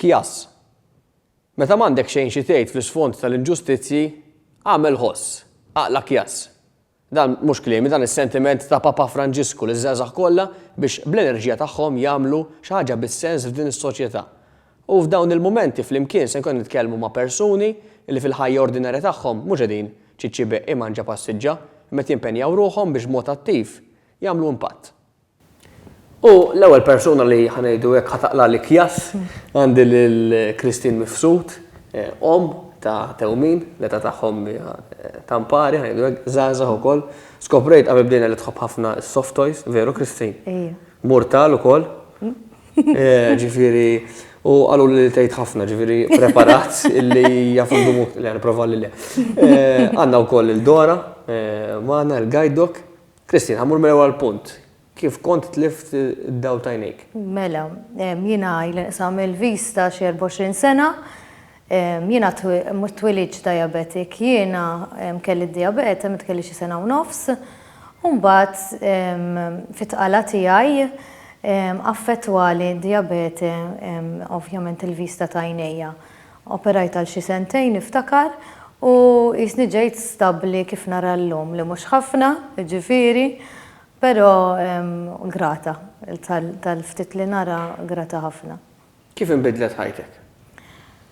Kjass. Meta m'għandek xejn xi tgħid fl-isfond tal-inġustizzji, agħmel ħoss, aqla' kjass. Dan mhux kliemi, dan is-sentiment ta' Papa Franġisku liż-żgħażagħ kollha biex bl-enerġija tagħhom jagħmlu xi ħaġa bis-sens f'din is-soċjetà. U f'dawn il-mumenti flimkien se nkunu qed nitkellmu ma' persuni li fil-ħajja ordinarja tagħhom mhux qegħdin ċiċibeq imanġa passiġġa, imma qed jimpenjaw ruħhom biex b'mod attiv jagħmlu impatt. U l-ewwel persuna li, ħa ngħidu hekk, ħa taqla' l-ikjas għandi lil Christine Mifsud, omm ta' tewmin, l-età tagħhom hija ta' mpari, ħa ngħidu hekk, żgħażagħ ukoll. Skoprejt qabel bdejna li tħobb ħafna s-soft toys, veru Christine? Ejja. Murtal ukoll. Ġifieri, u qaluli li tgħid ħafna, ġifieri preparat illi jaf indumu, le nipprova li le. Għandna wkoll lil Dora magħna, il-guide dog. Christine, ħammur mill-ewwel punt. Kif kont tlift id-dawl ta' għajnejk? Mela, jiena il nqsam il-vis ta' xi 24 sena, jiena twilidx diabetic, jiena kelli d-diabete meta kelli xi sena u nofs, u mbagħad fit-tqala tiegħi affettwali d-diabete ovvjament il-vista ta' għajnejja. Operajt għal xi sentejn niftakar u qisni ġejt stabbli kif nara llum li mhux ħafna, jiġifieri, però grata tal-ftit li nara, grata ħafna. Kif inbidlet ħajtek?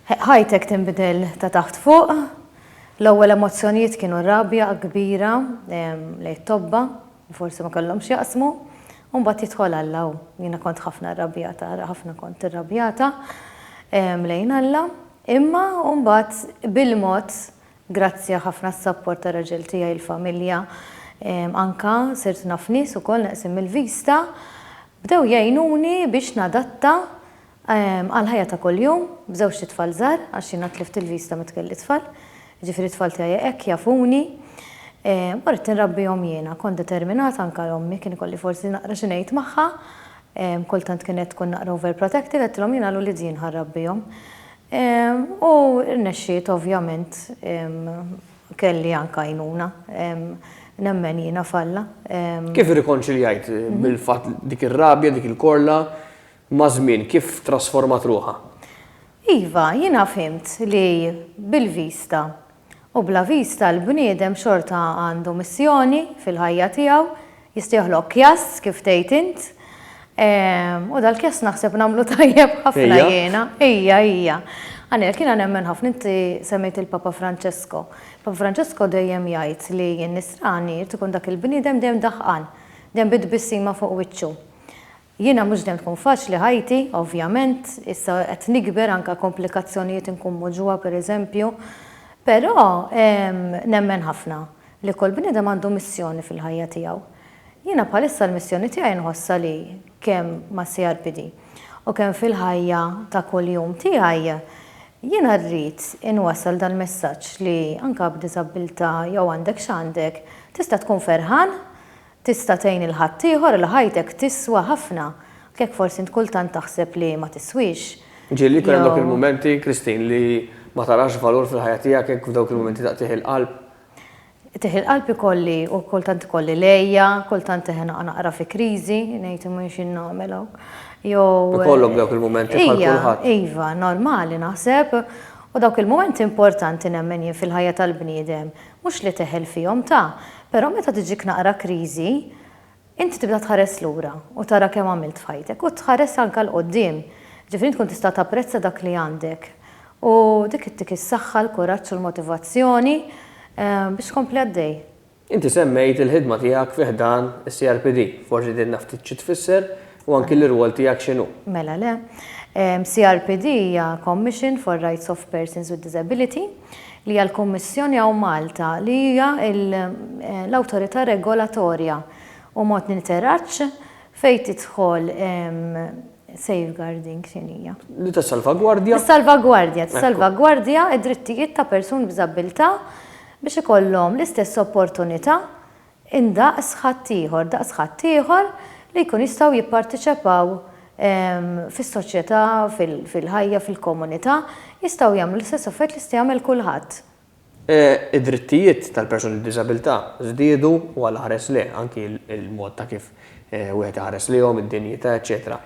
Ħajtek tinbidel ta' taħt fuq. L-ewwel emozzjonijiet kienu rabja kbira lejn it-tobba, u forsi ma kellhomx x'jaqsmu, u mbagħad jidħol Alla u jiena kont ħafna rrabjata, ħafna kont irrabjata lejn Alla, imma u mbagħad bil-mod grazzja ħafna s-sapport tar-raġel tiegħi, il-familja, anke sirt naf nies ukoll neqsin mill-vista, bdew jgħinuni biex nadatta, Għall-ħajja ta' kuljum, b'żewġt itfal żgħar, għax jiena tlift il-vista meta kelli tfal, jiġifieri t-tfal tiegħi hekk jafuni, u ridt inrabbihom jiena. Kont determinata anke għal ommi, kien ikolli forsi naqra xi ngħid magħha, kultant kienet tkun naqra overprotective, għedtilhom jiena l ulied jien ħa nrabbihom. U rnexxiet ovvjament, kelli anke għajnuna, nemmen jiena f'Alla. Kif irrikonċiljajt bil-fatt dik ir-rabja, dik il-korla, maż-żmien kif trasformat ruħha? Iva, jiena fhimt li bil-vista u bla vista l-bniedem xorta għandu missjoni fil-ħajja tiegħu, jista' joħloq kjass kif tgħid int, u dal-kjass naħseb nagħmlu tajjeb ħafna jiena. Ija, ija. Anel, jiena nemmen ħafna, inti semmejt il-Papa Franċesko. Papa Franċesko dejjem jgħid li n-nisrani jrid ikun dak il-bniedem dejjem daħqan, dejjem bi tbissima fuq wiċċu. Jiena mhux dejjem tkun faċli ħajti, ovvjament, issa qed nikber anke komplikazzjonijiet inkun muġugħa pereżempju, però nemmen ħafna li kull bniedem għandu missjoni fil-ħajja tiegħu. Jiena bħalissa l-missjoni tiegħi nħossha li kemm mas-CRPD u kemm fil-ħajja ta' kuljum tiegħi jiena rrid inwassal dal-messaġġ li anke b'diżabbiltà jew għandek x'għandek tista' tkun ferħan Tista' tgħin 'il ħaddieħor 'il ħajtek tiswa ħafna, anke jekk forsi int kultant taħseb li ma tiswix. Ġieli jkun hemm dawk il-mumenti, Christine, li ma tarax valur fil-ħajja tiegħek hekk f'dawk il-mumenti ta' qitigħ il-qalb? Qitigħ il-qalb ikolli u kultant ikolli lejja, kultant eħe naqa' naqra fi kriżi, ngħid imma jien xi nagħmel hawn. Jew Ikollok dawk il-mumenti bħal kulħadd. Ija, iva, normali naħseb. U dawk il-mumenti importanti nemmen jien fil-ħajja tal-bniedem Mhux li teħel fihom, ta, però meta tiġik naqra kriżi, inti tibda tħares lura u tara kemm għamilt f'ħajtek u tħares anke 'l quddiem. Ġifieri tkun tista' tapprezza dak li għandek u dik ittik is-saħħa, l-kuraġġ u l-motivazzjoni biex tkompli għaddej. Inti semmejt il-ħidma tiegħek fi ħdan is-CRPD. Forsi tgħidilna ftit xi tfisser U anki l-irwol tiegħek x'inhu? Mela le. CRPD hija Commission for Rights of Persons with Disability, li hija l-kummissjoni hawn Malta li hija l-awtorità regolatorja u mod niteraġġ fejn tidħol safeguarding x'inhi hija? Li tissalvagwardja. Tissalvagwardja, tissalvagwardja d-drittijiet ta' persuni b'diżabbiltà biex ikollhom l-istess opportunità indaqs ħaddieħor, daqs ħaddieħor li jkun jistgħu jipparteċipaw fis-soċjetà, fil-ħajja, fil-komunità, jistgħu jagħmlu l-istess affarijiet li jista' jagħmel kulħadd. Id-drittijiet tal-persuni b'diżabilità żdiedu u għal aħres lejh, anki l-mod ta' kif wieħed iħares lejhom, id-dinjità, eċċetera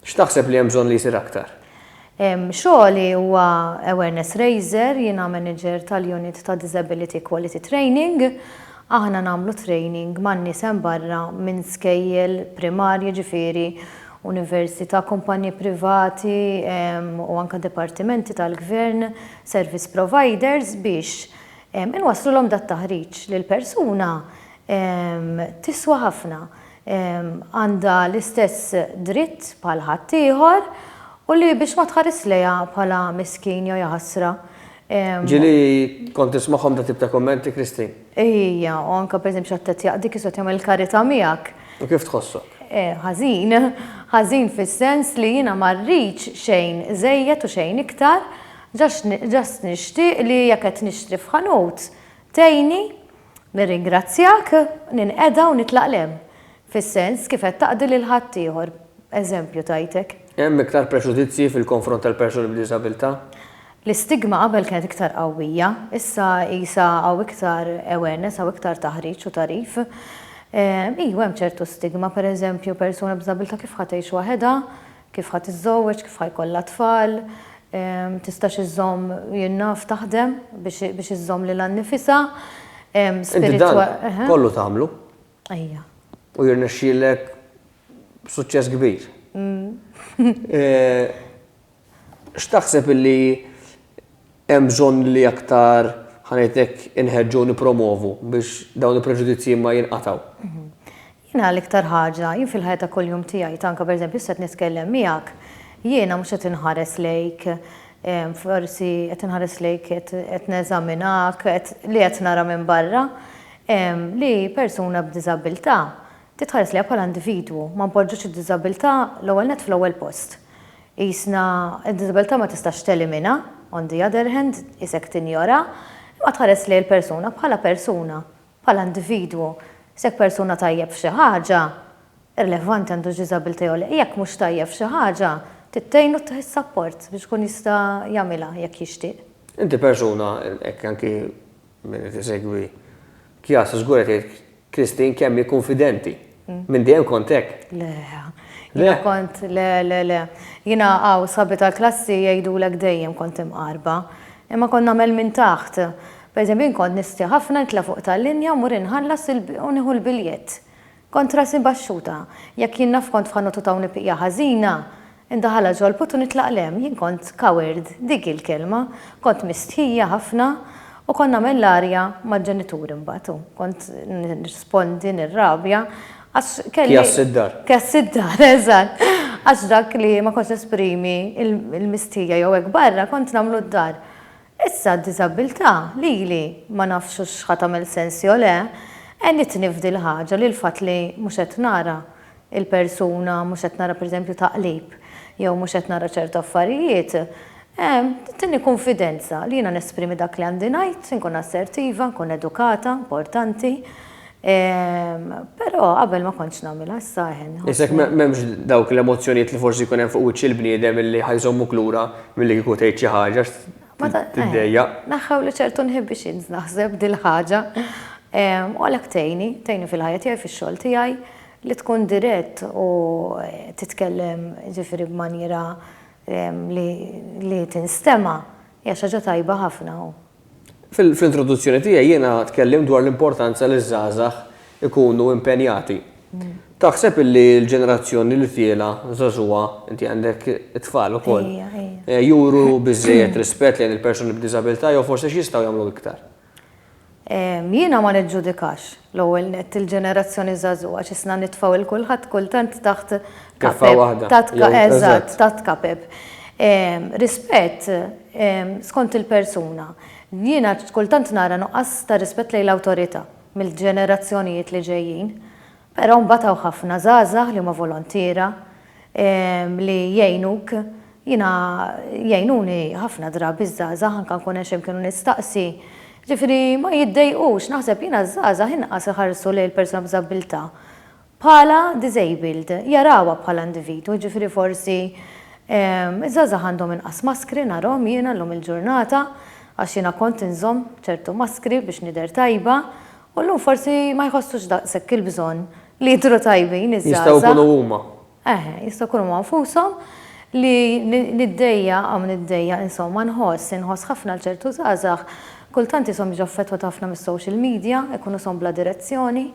X'taħseb li hemm bżonn li jsir aktar? Xogħli huwa awareness raiser, jiena manager tal-unit ta' Disability Equality Training. Aħna nagħmlu training man-nies hemm barra minn skejjel primarji jiġifieri università, kumpaniji privati u anke dipartimenti tal-gvern, service providers biex inwasslulhom dat-taħriġ li l-persuna tiswa ħafna. għandha l-istess dritt bħal ħaddieħor u li biex ma tħarisx lejha bħala miskin jew jaħasra. Ġieli kont nismagħhom dan tip ta' kummenti, Christine. Ejja, u anke pereżempju x'qed tgħid jaqdik kif se tagħmel karità miegħek. U kif tħossok? Ħażin. Ħażin fis-sens li jiena ma rridx xejn żejjed u xejn iktar, just nixtieq li jekk qed nixtri f'ħanut tgħinni Nirringrazzjak, ninqeda u nitlaq 'l hemm, fis-sens kif qed taqdi lil ħaddieħor. Eżempju tajtek. Hemm iktar preġudizzji fil-konfront tal-persuni b'diżabilità? L-istigma qabel kienet iktar qawwija, issa qisha hawn iktar awareness, hawn iktar taħriġ u tagħrif. Ejwa hemm ċertu stigma, pereżempju persuna b'diżabilità kif ħa tgħix waħedha Kif ħa tiżżewweġ, kif ħa jkollha tfal, tistax iżżomm jien naf taħdem biex iżżomm lilha nnifisha. Inti dan kollu tagħmlu. Ejja. U jirnexxielek b'suċċess kbir. X'taħseb illi hemm bżonn li aktar, ħa ngħid hekk, inħeġġu u nippromovu biex dawn il-preġudizzji ma jinqatgħu? Jiena l-iktar ħaġa, jien fil-ħajja ta' kuljum tiegħi, tanka per eżempju issa qed nitkellem miegħek, jiena mhux qed inħares lejk, forsi qed inħares lejk qed qed neżaminak, qed li qed nara minn barra, li persuna b'diżabbiltà titħares lejha bħala individwu, ma npoġġux id-diżabbiltà l-ewwel nett fl-ewwel post. Qisna d-diżabbiltà ma tistax telimina, on the other hand, qisek tinjora, imma tħares lejn il-persuna bħala persuna. Bħala individwu, se jekk persuna tajjeb f'xi ħaġa, irrilevanti għandux diżabilità jew le, jekk mhux tajjeb f'xi ħaġa, trid tgħinu ttih is-sapport biex ikun jista' jagħmilha jekk jixtieq. Inti persuna, hekk anki min qed isegwi Kjasa żgur qed jgħid Christine kemm hi kunfidenti. Minn dejjem kont hekk? Le. Le? Kont, le, le, le. Jiena hawn sħabi tal-klassi jgħidulek dejjem kont imqarba. Imma kont nagħmel minn taħt. Pereżempju jien kont nistħi ħafna nitla' fuq tal-linja u mur inħallas u nieħu l-biljett. Kont rasi baxxuta. Jekk jien naf kont f'ħanututaw nippiqja ħażina, Indaħal għaġolb u nitlaq 'l hemm. Jien kont coward, dik hi l-kelma. Kont mistħija ħafna u kont nagħmel l-arja mal-ġenituri mbagħad u kont nirrispondi, nirrabja għax kelli. Kjass id-dar. Kjass id-dar, eżatt. Għax dak li ma kontx nesprimi l-mistħija jew hekk barra kont nagħmlu d-dar. Issa d-diżabbiltà, lili, ma nafx hux ħa tagħmel sens jew le, għenitni f'dil-ħaġa li l-fatt li mhux qed nara il-persuna, mhux qed nara pereżempju taqlib, jew mhux qed nara ċertu affarijiet, tittieni kunfidenza li jiena nesprimi dak li għandi ngħid, inkun assertiva, nkun edukata, importanti, però qabel ma kontx nagħmilha, issa eħe nħossni. Issa jekk m'hemmx dawk l-emozzjonijiet li forsi jkun hemm fuq wiċċ il-bniedem illi ħa jżommuk lura milli kieku tgħid xi ħaġa tiddejjaq. Naħħew li ċertu inhibitions naħseb dil-ħaġa u għalhekk tgħinni, tgħinni fil-ħajja tiegħi, fix-xogħol tiegħi, Li tkun dirett u titkellem jiġifieri b'manjiera li tinstema' hija xi ħaġa tajba ħafna u. Fl-introduzzjoni tiegħi jiena tkellimt dwar l-importanza li ż-żgħażagħ ikunu impenjati. Taħseb li l-ġenerazzjoni li tiela' żagħżugħa, inti għandek it-tfal ukoll, juru biżżejjed rispett lejn il-persuni b'diżabilità jew forsi x'jistgħu jagħmlu iktar? Jiena ma niġġudikax, l-ewwel nett, il-ġenerazzjoni żagħżugħa x'isna nitfgħu 'il kulħadd kultant taħt kapep. Eżatt, taħt kapep. Rispett skont il-persuna. Jiena kultant nara nuqqas ta' rispett lejn l-awtorità mill-ġenerazzjonijiet li ġejjin. Però mbagħad hawn ħafna żgħażagħ li huma volontiera, li jgħinuk, jiena jgħinuni ħafna drabi ż-żgħażagħ anke nkun hemm x'imkien u nistaqsi, ġifieri ma jiddejqux, naħseb jiena ż-żgħażagħ inqas iħarsu lejn il-persuna b'diżabbiltà bħala disabled, jarawha bħala individwu, ġifieri forsi ż-żgħażagħ għandhom inqas maskri narhom jiena llum il-ġurnata għax jiena kont inżomm ċertu maskri biex nidher tajba u llum forsi ma jħossux daqshekk il-bżonn. Li jidhru tajbin iż-żgħażagħ. Jistgħu jkunu huma. Eħe, jistgħu jkunu huma nfushom li niddejja hawn niddejja insomma nħoss, inħoss ħafna għal ċertu żgħażagħ kultant ishom jiġu affettwati ħafna mis-social media, ikunu ishom bla direzzjoni,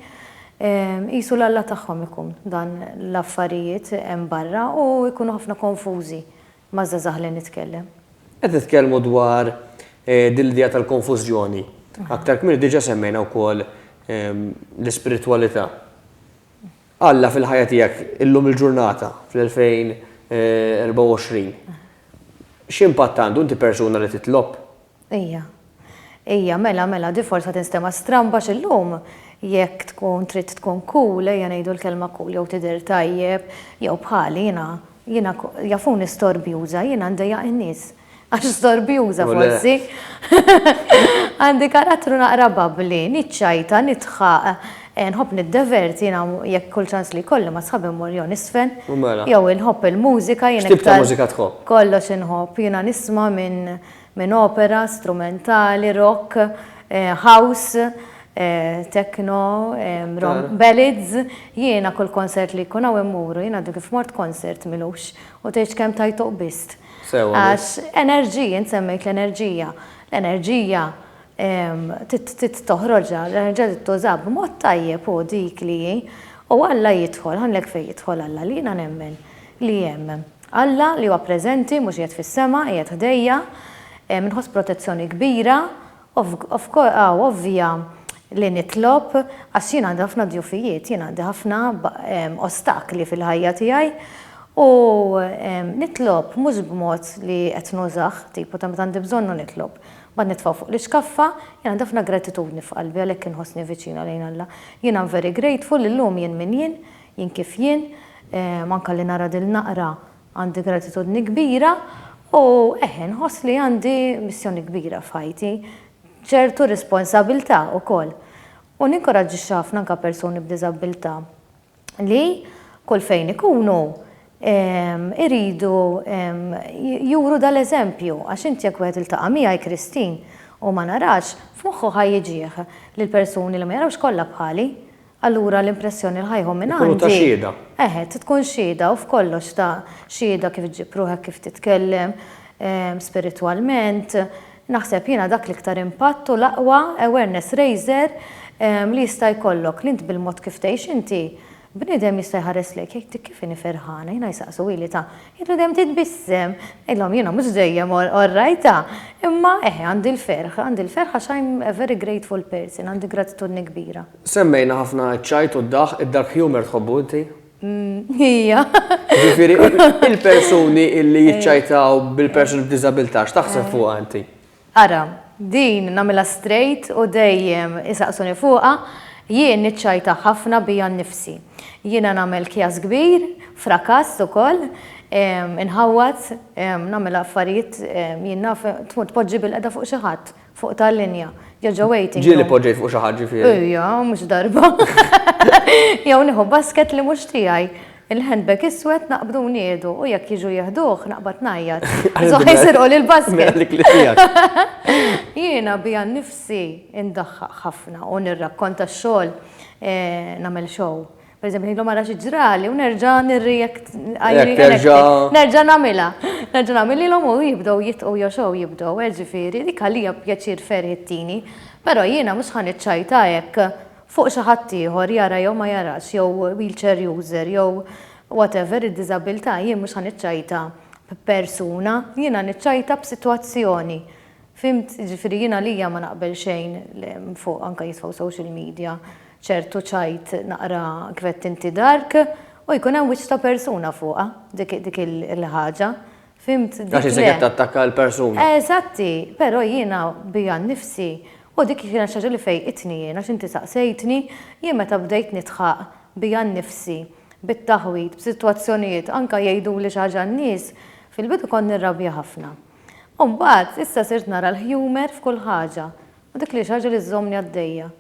qisu l-Alla tagħhom ikun dan l-affarijiet hemm barra u jkunu ħafna konfużi. Ma' żgħażagħ li nitkellem. Qed nitkellmu dwar din l-idea tal-konfużjoni. Aktar kmieni diġà semmejna wkoll l-ispiritwalità. Alla fil-ħajja tiegħek illum il-ġurnata, fl-2024, x'impatt għandu? Inti persuna li titlob? Ija. Ija, mela, mela, di forsa tinstema' stramba x'illum, jekk tkun trid tkun cool, ejja ngħidu l-kelma cool, jew tidher tajjeb, jew bħali, jiena, jiena, jafuni storbjuża, jiena ndejjaq in-nies. Għax storbjuża forsi. Għandi karattru naqra babbli, niċċajta, nidħaq, nħobb niddeverti, jiena jekk kull ċans li jkolli ma' sħabi mmur jew nisfen, jew inħobb il-mużika, jiena iktar. X'tip ta' mużika tħobb? Kollox inħobb, jiena nisma' minn minn opera strumentali, rock, house, techno, ballads, jiena kull konsert li jkun hawn immuru, jien għadu kif mort konsert Milux u tgħidx kemm tajtuq bist. Għax enerġija, int semmejt l-enerġija, l-enerġija trid toħroġha, l-enerġija trid tużaha b'mod tajjeb u dik li hi u Alla jidħol, ħa ngħidlek fejn jidħol Alla, li jiena nemmen li hemm. Alla, li huwa preżenti, mhux qiegħed fis-sema, qiegħed ħdejja, inħoss protezzjoni kbira, ovvja li nitlob, għax jien għandi ħafna djufijiet, jien għandi ħafna ostakli fil-ħajja tiegħi, u nitlob mhux b'mod li qed nużah, tipu ta' meta għandi bżonnu nitlob, mbagħad nitfa' fuq l-iskaffa, jien għandi ħafna gratitudni f'qalbi għalhekk inħossni viċina lejn Alla. Jien am very grateful li llum jien min jien, Jien kif jien, manka li nara dil naqra għandi gratitudni kbira u eħe nħoss li għandi missjoni kbira f'ħajti, ċertu responsabiltà ukoll. U ninkoraġġixxi ħafna anka persuni b'diżabbiltà li kull fejn ikunu iridu juru dal eżempju għax int jekk wieħed iltaqa' miegħi Christine u ma narax, f'moħħu ħa jiġih li l-persuni li ma jarawx kollha bħali. Allura l-impressjoni li ħa jieħu minn għandi. Ikunu ta' xhieda. Eħe, tkun xhieda u f'kollox ta' xhieda kif ġġib ruħek, kif titkellem, spiritwalment. Naħseb jiena dak l-iktar impatt u l-aqwa awareness raiser li jista' jkollok, li int bil-mod kif tgħix inti, bniedem jista' jħares lejk jgħidlek kif inhi ferħana, jiena jsaqsu ili ta' jidhru dejjem titbissem. Ngħidilhom jiena mhux dejjem orrajta, imma eħe għandi l-ferħ, għandi l-ferħ għax I'm a very grateful person, għandi gratitudni kbira. Semmejna ħafna ċ-ċajt u d-daħq, id-dark humour tħobbu inti? Hija. Jiġifieri il-persuni li jiċċajtaw bil-persuni b'diżabilità, x'taħseb fuqha inti? Ara, din nagħmilha straight u dejjem isaqsuni fuqha, jien niċċajta ħafna bija nnifsi. Jiena nagħmel kjass kbir, frakass ukoll, inħawwad, nagħmel affarijiet jien naf tmur tpoġġi bilqiegħda fuq xi ħadd. Fuq tal-linja. Jew ġo waiting. Ġieli poġġejt fuq xi ħadd ġifieri. Ejja, mhux darba. Jew nieħu basket li mhux tiegħi. Il-handbag iswed naqbdu niedu u jekk jiġu jieħduh naqbad ngħajjat. Żoħħ jsirqu lil basket. Jiena biha nnifsi ndaħħaq ħafna u nirrakkonta x-xogħol nagħmel show. Per eżempju, ngħidlu mara xi ġrali u nerġa' nirrijekt nerġa' nagħmilha. Nerġa' nagħmililhom u jibdew jitqu joxgħu jibdew, eh, ġifieri dik għalija pjaċir ferħ ittini, però jiena mhux ħa niċċajta hekk fuq xi ħadd ieħor jara jew ma jarax jew wheelchair user jew whatever id-diżabilità jien mhux ħa niċċajta b'persuna, jiena niċċajta b'sitwazzjoni. Fhimt? Jiġifieri jien għalija ma naqbel xejn fuq anke jitfgħu social media. ċertu ċajt naqra kif għedt inti dark, u jkun hemm wiċċ ta' persuna fuqha, dik il-ħaġa. Fhimt? Għax isek qed tattakka l-persuna. Eżatt hi, però jiena bija nnifsi u dik kienet xi ħaġa li fejqitni jien għax inti saqsejtni, jien meta bdejt nidħaq bija nnifsi bit-taħwid b'sitwazzjonijiet anke jgħiduli xi ħaġa n-nies, fil-bidu kont nirrabja ħafna. U mbagħad issa sirt nara l-humour f'kull ħaġa u dik li hi xi ħaġa li żżommni għaddejja.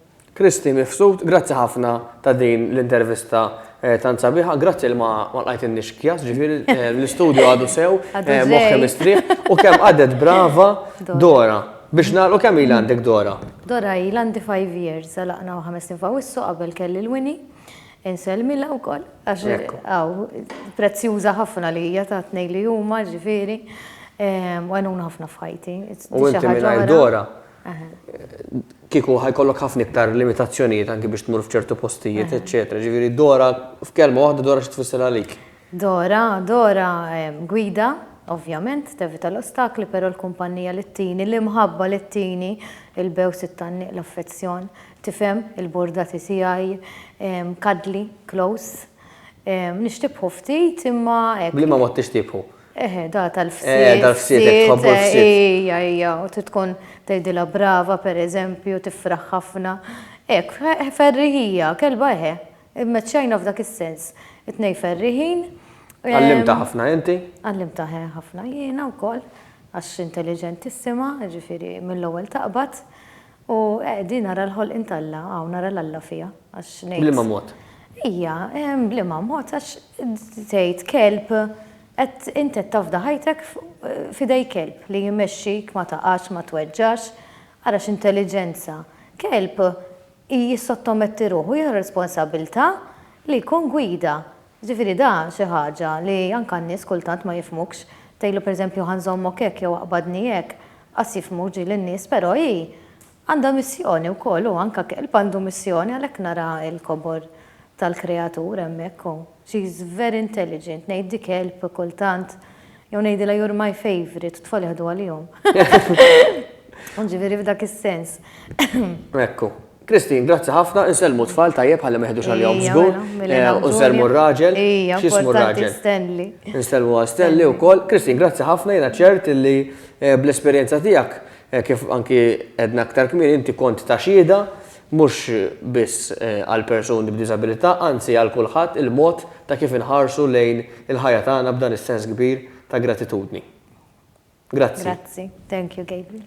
Christy Mifsud, grazzi ħafna ta' din l-intervista tant sabiħa, grazzi li ma lqajtinniex kjas, ġifieri l-istudju għadu sew, moħħi mistrieħ, u kemm għadet brava Dora. Biex nagħlqu kemm ilha għandek Dora? Dora ilha għandi five years, għalaqna u ħames snin f'Awwissu qabel kelli l-Wini. Insellmilha wkoll għax hawn prezzjuża ħafna li hija ta' tnejn li huma ġifieri u għenuna ħafna f'ħajti. U inti mingħajr Dora? kieku ħa jkollok ħafna iktar limitazzjonijiet anki biex tmur f'ċertu postijiet, eċċetera. Ġifieri Dora, f'kelma waħda Dora xi tfisser għalik? Dora, Dora gwida, ovvjament, tevita l-ostakli, però l-kumpannija li ttini, l-imħabba li ttini, il-bews, it-tgħanniq, l-affezzjon, tifhem, il-burdati tiegħi, cuddly, close. Nixtieqhu ftit imma hekk. B'liema mod tixtieqhu? Eħe, da tal-fsiet. Eh, tal-fsiet, hekk tħobbu l-fsiet. Ija, ija, u trid tkun tgħidilha brava pereżempju, tifraħ ħafna. Hekk, eh, ferriħija, kelba eħe. Immeċċajna f'dak is-sens. It-tnej ferriħin. Għallimta ehm, ħafna inti? Għallimta eh, ħafna jiena wkoll għax intelligentissima, ġifieri mill-ewwel taqbad. U eh, din ara l-ħolqien t'Alla, hawn ara l-Alla fiha, għax ngħid. B'liema mod? Ija, ehm, b'liema mod għax tgħid kelb qed int qed tafda ħajtek f'idej kelb li jmexxik ma taqax, ma tweġġax, ara x'intelliġenza. Kelb jissottometti ruħu, jieħu responsabbiltà li jkun gwida. Ġifieri da xi ħaġa li anka n-nies kultant ma jifhmukx. Tgħidlu pereżempju ħa nżommok hekk jew aqbadni hekk, qas jifhmu ġieli n-nies però hi għandha missjoni wkoll u anka kelb għandu missjoni għalhekk nara l-kobor tal-kreatur hemmhekk u she is very intelligent ngħiddi kelb kultant Jew ngħidilha you're my favorite, tfal jaħdu għalihom. Ġifieri f'dak is-sens. Ekku. Kristin, grazzi ħafna, insellmu tfal tajjeb ħalli meħdux għal-jom zgur, eh, u nsellmu r-raġel, xismu r-raġel. Stanley. Nsellmu għal Stanley u kol. Kristin, grazzi ħafna, jena ċert li eh, bl-esperienza tijak, eh, kif anki edna aktar kmini, inti kont ta' xida, mhux biss għal persuni b'diżabilità, anzi għal kulħadd, il-mod ta' kif inħarsu lejn il-ħajja tagħna b'dan is-sens kbir ta' gratitudni. Grazzi. Grazzi. Thank you, Gabriel.